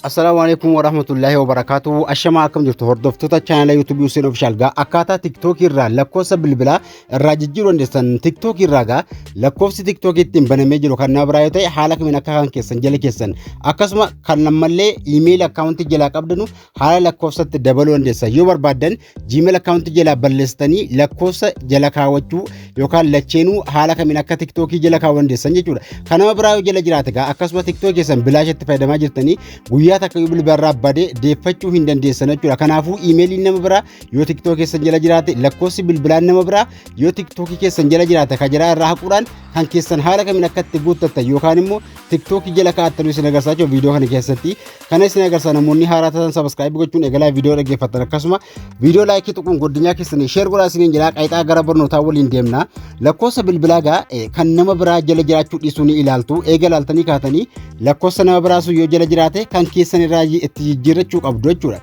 Assalaamu alaikum wa rahmatullahi wa barakaatu. Ashamaa akkam jirtu hordoftoota chaanala YouTube Hussein Official gaa akkaataa TikTok irraa lakkoofsa bilbilaa irraa jijjiiruu dandeessan TikTok irraa gaa lakkoofsi TikTok ittiin banamee jiru kan na biraa yoo ta'e haala kamiin akka kan keessan jala keessan akkasuma kan ammallee iimeeyil akkaawuntii jalaa qabdanu haala lakkoofsatti dabaluu dandeessa yoo barbaaddan gmail akkaawuntii jalaa balleessitanii lakkoofsa jala kaawwachuu yookaan lacheenuu haala kamiin akka tiktookii jala kaawwuu dandeessan jechuudha kan nama biraa yoo jala jiraate gaa akkasuma tiktookii keessan bilaash itti fayyadamaa jirtanii guyyaa takka yoo bilbila irraa bade deeffachuu hin dandeessan jechuudha kanaafuu iimeeliin nama biraa yoo tiktookii keessan jala jiraate lakkoofsi bilbilaan nama biraa yoo tiktookii keessan jala jiraate kan jala irraa haquudhaan kan keessan haala kamiin akka itti guuttattan yookaan immoo tiktookii jala kaa'attan isin agarsiisaa viidiyoo kana keessatti Kana isin agarsiisa namoonni haaraa taatan sabaskaayibii gochuun eegalaa viidiyoo dhaggeeffattan akkasuma viidiyoo laayikii tuquun godinyaa keessanii sheer godhaa isiniin jedhaa qaayixaa gara barnootaa waliin deemna lakkoofsa bilbilaa gaa kan nama biraa jala jiraachuu dhiisuu ni ilaaltu eega ilaaltanii kaatanii lakkoofsa nama biraa sun yoo jala jiraate kan keessan irraa itti jijjiirrachuu qabdu jechuudha.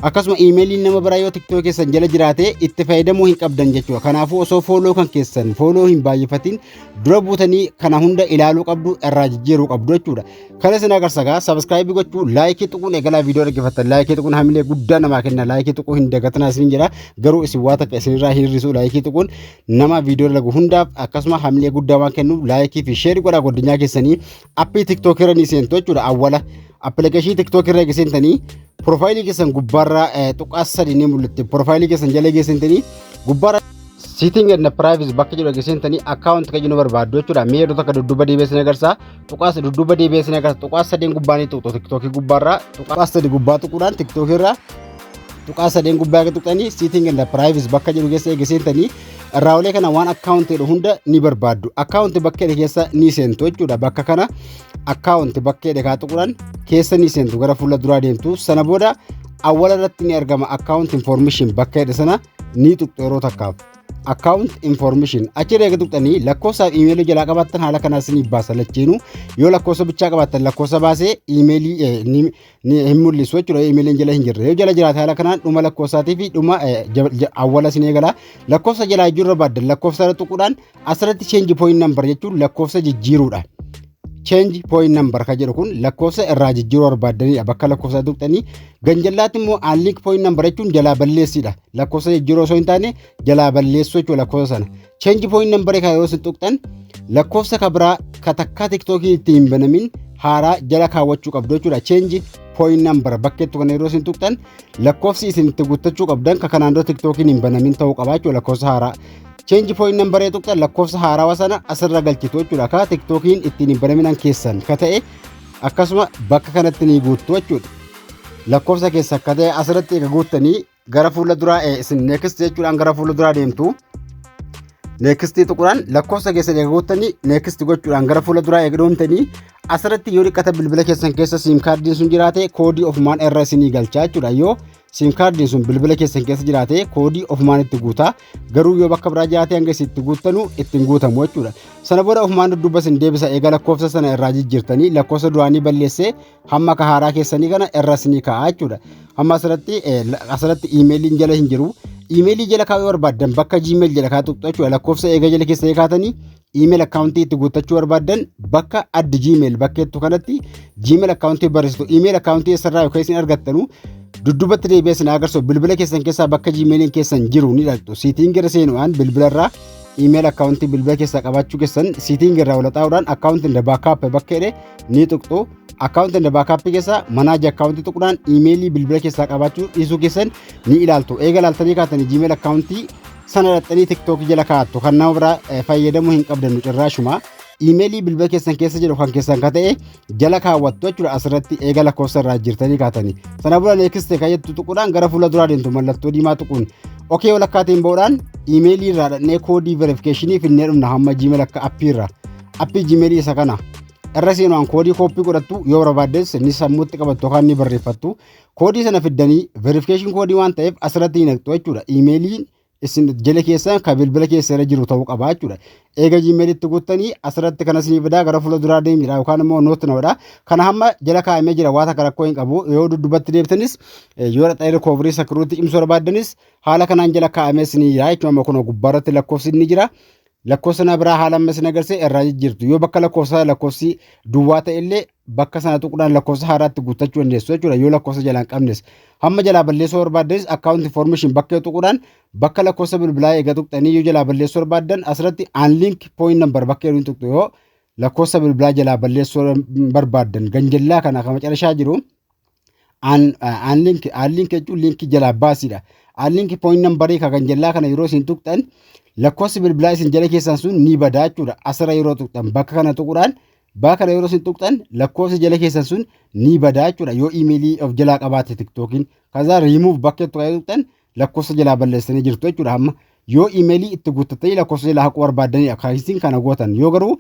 Akkasuma iimeeliin nama biraa yoo tiktoo keessan jala jiraate itti fayyadamuu hin qabdan jechuudha. Kanaafuu osoo fooloo kan keessan fooloo hin baay'ifatin dura buutanii kana hunda ilaaluu qabdu irraa jijjiiruu qabdu jechuudha. Kan isin agarsa gaa sabiskiraayibii gochuu laayikii tuquun eegalaa viidiyoo dhaggeeffattan laayikii tuquun hamilee guddaa namaa kenna laayikii tuquu hin dagatinaa isin jedha garuu isin waa takka isinirraa hin hir'isu laayikii tuquun nama viidiyoo lagu hundaaf akkasuma hamilee guddaa waan kennuuf laayikii fi sheerii godhaa godinyaa keessanii appii tiktookii irra ni seentu jechuudha awwala appilikeeshinii tiktookii irra geessintanii piroofaayilii keessan gubbaarraa tuqaa sadii ni mul'atti piroofaayilii keessan jala geessintanii gubbaarraa Sitting and privacy bakka jedhu geessintanii akkaawunti kan jennu barbaaddu jechuudha mee yeroo takka dudduuba deebi'ee isin agarsiisa tuqaa sadii dudduuba deebi'ee sin agarsiisa tuqaa sadeen gubbaa ni tuqxu tiktookii gubbaarraa tuqaa sadii gubbaa tuquudhaan tiktookii irraa tuqaa sadeen gubbaa akka tuqxanii siiting and privacy bakka jedhu keessa eega seentanii irraa olee kana waan akkaawuntii jedhu hunda ni barbaaddu akkaawuntii bakka jedhe keessa ni seentu jechuudha bakka kana akkaawuntii bakka jedhe kaa tuquudhaan keessa ni seentu gara fuula duraa deemtu sana booda awwala irratti ni argama akkaawuntii information bakka jedhe sana ni tuqxu yeroo takkaaf. account information achirra eega tuqxanii lakkoofsa iimeelii jalaa qabaattan haala kanaa isiniif baasa lachiinu yoo lakkoofsa bichaa qabaattan lakkoofsa baasee iimeelii eh, ni- ni- hin mul'isu jechuudha iimeeliin jala hin jirre yoo jala jiraate haala kanaan dhuma lakkoofsaatii fi dhuma eh, ja- ja- awwala isin eegala lakkoofsa jalaa iyyuu irra baaddan lakkoofsa irra tuquudhaan asirratti change point number jechuun lakkoofsa jijjiiruudha. change point number ka jedhu kun lakkoofsa irraa jijjiiruu barbaaddaniidha bakka lakkoofsaa tuqxanii ganjallaatti immoo aanliik point number jechuun jalaa balleessiidha lakkoofsa jijjiiruu osoo hin taane jalaa balleessuu jechuudha lakkoofsa sana change point number ka yoo isin tuqxan lakkoofsa ka biraa ka takkaa tiktookii itti hin banamin haaraa jala kaawwachuu qabdu jechuudha change point number bakkeettu kana yeroo isin tuqxan lakkoofsi isin itti guuttachuu qabdan ka kanaan dura tiktookiin hin banamin ta'uu qabaa jechuudha lakkoofsa haaraa Change point number ee tuqxan lakkoofsa haarawa sana asirra galchitu jechuudha. Akka TikTokiin ittiin hin banaminan keessan ka ta'e akkasuma bakka kanatti ni guuttu jechuudha. Lakkoofsa keessa akka ta'e asirratti eega guuttanii gara fuula duraa ee, isin next jechuudhaan gara fuula duraa deemtu. Next tuqudhaan lakkoofsa keessan eega guuttanii next gochuudhaan gara fuula duraa eega deemtanii asirratti yoo dhiqata bilbila keessan keessa siim kaardiin sun jiraate koodii ofumaan irra isinii galchaa jechuudha. Yoo Siim kaardiin sun bilbila keessan keessa jiraatee koodii ofumaan itti guutaa garuu yoo bakka biraa jiraatee hanga isin itti guuttanu ittiin guutamu jechuudha. Sana booda ofumaan dudduuba isin deebisa eega lakkoofsa sana irraa jijjiirtanii lakkoofsa duraanii balleessee hamma ka haaraa keessanii kana irra isinii kaa'a jechuudha. Amma asirratti asirratti iimeeliin jala hin jiru. Iimeelii jala kaa'uu barbaaddan bakka Gmail jala kaa'u tuqxu jechuudha. Lakkoofsa eega jala keessa kaatanii email account itti guuttachuu barbaaddan bakka add gmail bakkeettu kanatti gmail account barreessitu email account eessarraa yookaan isin argattanu dudduubatti deebi'ee isin agarsiisu bilbila keessan keessaa bakka gmailiin keessan jiru ni dhaqxu siitiin gara seenu'aan bilbilarraa email account bilbila keessaa qabaachuu keessan siitiin irraa walxaa'uudhaan account inda backup bakka jedhe ni tuqxu account inda backup keessaa manaaji account tuqnaan emailii bilbila keessaa qabaachuu dhiisuu keessan ni ilaaltu eega ilaaltanii kaatanii gmail account sana dhaxxanii tiktookii jala kaa'attu kan nama biraa eh, fayyadamuu hin qabdannu cirraashuma iimeelii bilbila keessan keessa jiru kan keessan ka ta'e jala kaawwattu jechuudha asirratti eega lakkoofsa irraa jirtanii kaatanii sana booda neekiste kan jettu tuquudhaan gara fuula duraa deemtu mallattoo diimaa tuquun okee walakkaatiin ba'uudhaan iimeelii irraa dhaqnee koodii verifikeeshinii finnee dhumna hamma jiimeel akka appii irraa appii jiimeelii isa kana irra seenuudhaan koodii kooppii godhattu yoo barbaaddes ni sammuutti qabattu yookaan ni barreeffattu koodii sana fiddanii verification koodii waan ta'eef asirratti hin haqxu jechuudha. Iimeeliin isin jala keessan kan bilbila keessa irra jiru ta'uu qaba jechuudha. Eega jiimeelitti guuttanii asirratti kana isinii fidaa gara fuula duraa deemidha yookaan immoo noot na godha. Kana hamma jala kaa'amee jira waan akka rakkoo hin qabu. Yoo duddubbatti deebitanis yoo dhaqxanii rikooverii sakiruutti cimsuu barbaaddanis haala kanaan jala kaa'amee isinii jira jechuudha. Amma kunoo gubbaarratti lakkoofsi inni jira. lakkoofsa na biraa haala amma isin agarsiise irraa jijjiirtu yoo bakka lakkoofsa lakkoofsi duwwaa ta'e illee bakka sana tuquudhaan lakkoofsa haaraatti guuttachuu dandeessu jechuudha yoo lakkoofsa jalaa hin qabnes hamma jalaa balleessuu barbaaddanis account information bakka yoo tuquudhaan bakka lakkoofsa bilbilaa eega tuqxanii yoo jalaa balleessuu barbaaddan asirratti unlink point number bakka yoo tuqxu yoo lakkoofsa bilbilaa jalaa balleessuu barbaaddan ganjallaa kana kan macarashaa jiru aan linki aan linki jechuun linki jalaa baasiidha. Aan linki pooyin nambarii kan jallaa kana yeroo isin tuqxan lakkoofsi bilbilaa isin jala keessan sun ni badaa jechuudha. Asirra yeroo tuqxan bakka kana tuquudhaan bakka kana yeroo isin tuqxan lakkoofsi jala keessan sun ni badaa jechuudha. Yoo imeelii of jalaa qabaate tiktookiin kasaa riimuuf bakka itti kan tuqxan lakkoofsa jalaa balleessanii jirtu jechuudha. Amma yoo imeelii itti guuttattanii lakkoofsa jalaa haquu barbaaddanidha. Kan isin kana gootan yoo garuu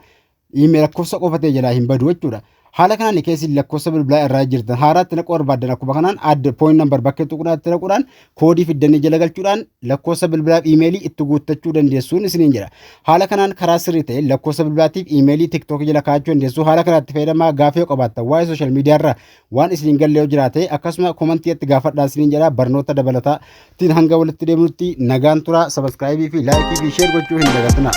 Iimeela lakkoofsa qofa ta'e jalaa hin badu jechuudha. Haala kanaan keessi lakkoofsa bilbilaa irraa jirtan haaraatti naquu barbaaddan akkuma kanaan adda point number bakka tuqnaatti naquudhaan koodii fiddanii jala galchuudhaan lakkoofsa bilbilaaf iimeelii itti guuttachuu dandeessuun isiniin jira. Haala kanaan karaa sirrii ta'een lakkoofsa bilbilaatiif iimeelii tiktookii jala kaa'achuu dandeessuu haala kanaatti fayyadamaa gaafii yoo qabaattan waa'ee sooshaal miidiyaa irraa Waan isiniin galle yoo jiraate akkasuma komantii itti gaafadhaa isiniin jedha barnoota dabalataa ittiin hanga walitti deemnutti nagaan turaa sabaskiraayibii fi laayikii fi sheer gochuu hin dagatinaa.